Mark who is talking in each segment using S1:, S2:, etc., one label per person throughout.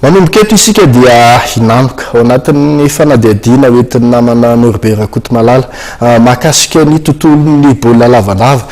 S1: Manomboka eto isika dia hinamoka ao anatin'ny fanadihadiana ho entin'ny namana Noribe Rakotomalala mahakasika ny tontolon'ny baolina lavalava.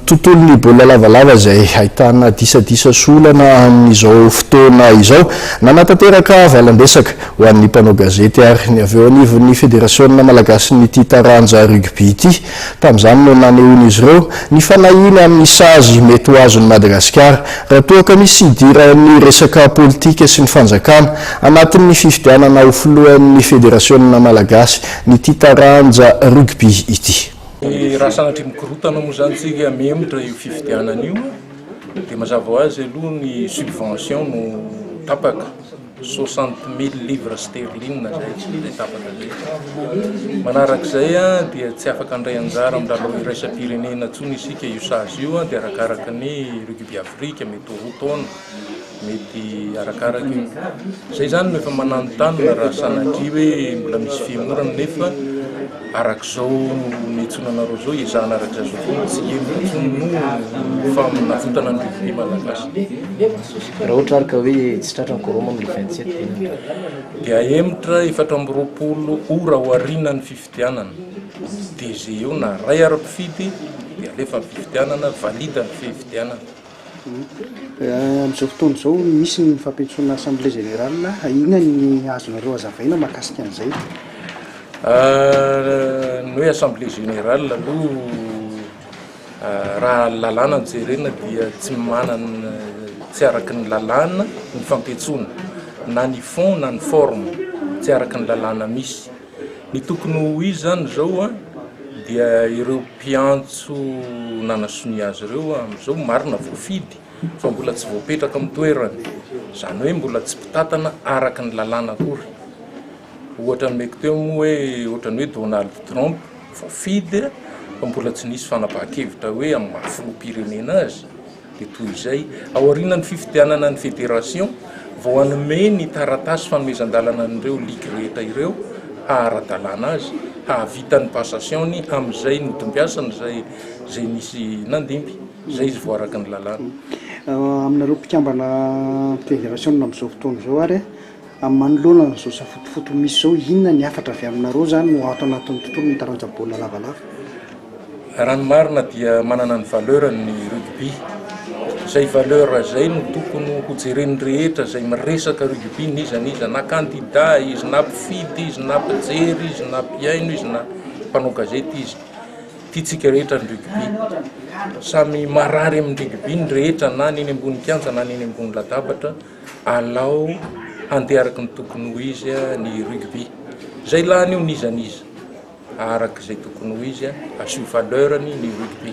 S1: Tontolon'ny baolina lavalava izay ahitana disadisa sy olana amin'izao fotoana izao. Nanatanteraka valan-dresaka ho an'ny mpanao gazety ary ny avy eo anivon'ny Federasionina malagasin'ity taranja rugby ity Tamin'izany no nanehoan'izy ireo ny fanahiany amin'ny sazy mety ho azon'i Madagasikara raha toa ka misy hidiran'ny resaka politika sy ny fanjakana anatin'ny fifidianana ho filohan'ny federasiona malagasy ny ity taranja rugby ity. Raha sanatria
S2: mikorontana moa izany isika mihemotra io fifidianana io dia mazava ho azy aloha ny subvention no tapaka. soixante mille livres sterlines izay izay tafadalehako. Manaraka izay dia tsy afaka handray anjara amin'ny lalao iraisam-pirenena intsony isika io sazy io dia arakaraka ny Rugby Afrique mety ho roa taona mety arakaraka io. Izay izany no efa mananontanona raha sanatria hoe mbola misy fihemorana nefa Araka izao niantsoana anareo izao hiezahana araka izao foana tsy heno intsony noho faminavotana ny revue malagasy.
S3: Raha ohatra ary ka hoe tsy tratra ny quorum amin'ny le 27 dia inona tratra? Dia
S2: ahemotra efatra amby roapolo ora aorianan'ny fifidianana. DG eo na ray ary mpifidy dia alefa ny fifidianana, valide ny fifidianana.
S4: Amin'izao fotoana izao misy ny fampentsoana assemblée générale, inona ny azonareo hazavaina mahakasika an'izay?
S2: Ny hoe assemblée générale aloha raha ny lalàna no jerena dia tsy manana, tsy araka ny lalàna ny fampentsoana, na ny fond na ny forme, tsy araka ny lalàna misy. Ny tokony ho izy izany izao dia ireo mpiantso nanasonia azy ireo amin'izao marina voafidy fa mbola tsy voapetraka amin'ny toerany, izany hoe mbola tsy mpitantana araka ny lalàna akory. Ohatra nomeko teo moa hoe ohatran'ny hoe Donald Trump voafidy fa mbola tsy nisy fanapahan-kevitra hoe amin'ny maha filoham-pirenena azy. dia toy izay, aorianan'ny fifidianana ny federasiona, vao hanome ny taratasy fanomezan-dalana an'ireo ligy rehetra ireo haha-ara-dalàna azy, hahavita ny passation-ny amin'izay notombiasany izay izay nisy nandimby. Izay izy vao araka ny lalàna. Aminareo
S4: mpikambana federasiona amin'izao fotoana izao ary. Amin'ny manoloana an'izao safotofoto misy izao, inona ny hafatra avy aminareo izany no ato anatin'ny tontolon'ny taranja baolina lavalava?
S2: Raha ny marina dia manana ny valeur-ny ny rugby. Izay valeur izay no tokony ho jeren'ny rehetra izay miresaka rugby n'iza n'iza, na kandida izy, na mpifidy izy, na mpijery izy, na mpihaino izy, na mpanao gazety izy. Tiantsika rehetra ny rugby. Samy marary amin'ny rugby ny rehetra na ny eny ambony kianja na ny eny ambony latabatra. Alao handeha araka ny tokony ho izy ny rugby. Izay lany io n'iza n'iza araka izay tokony ho izy, asio valeur-ny ny rugby.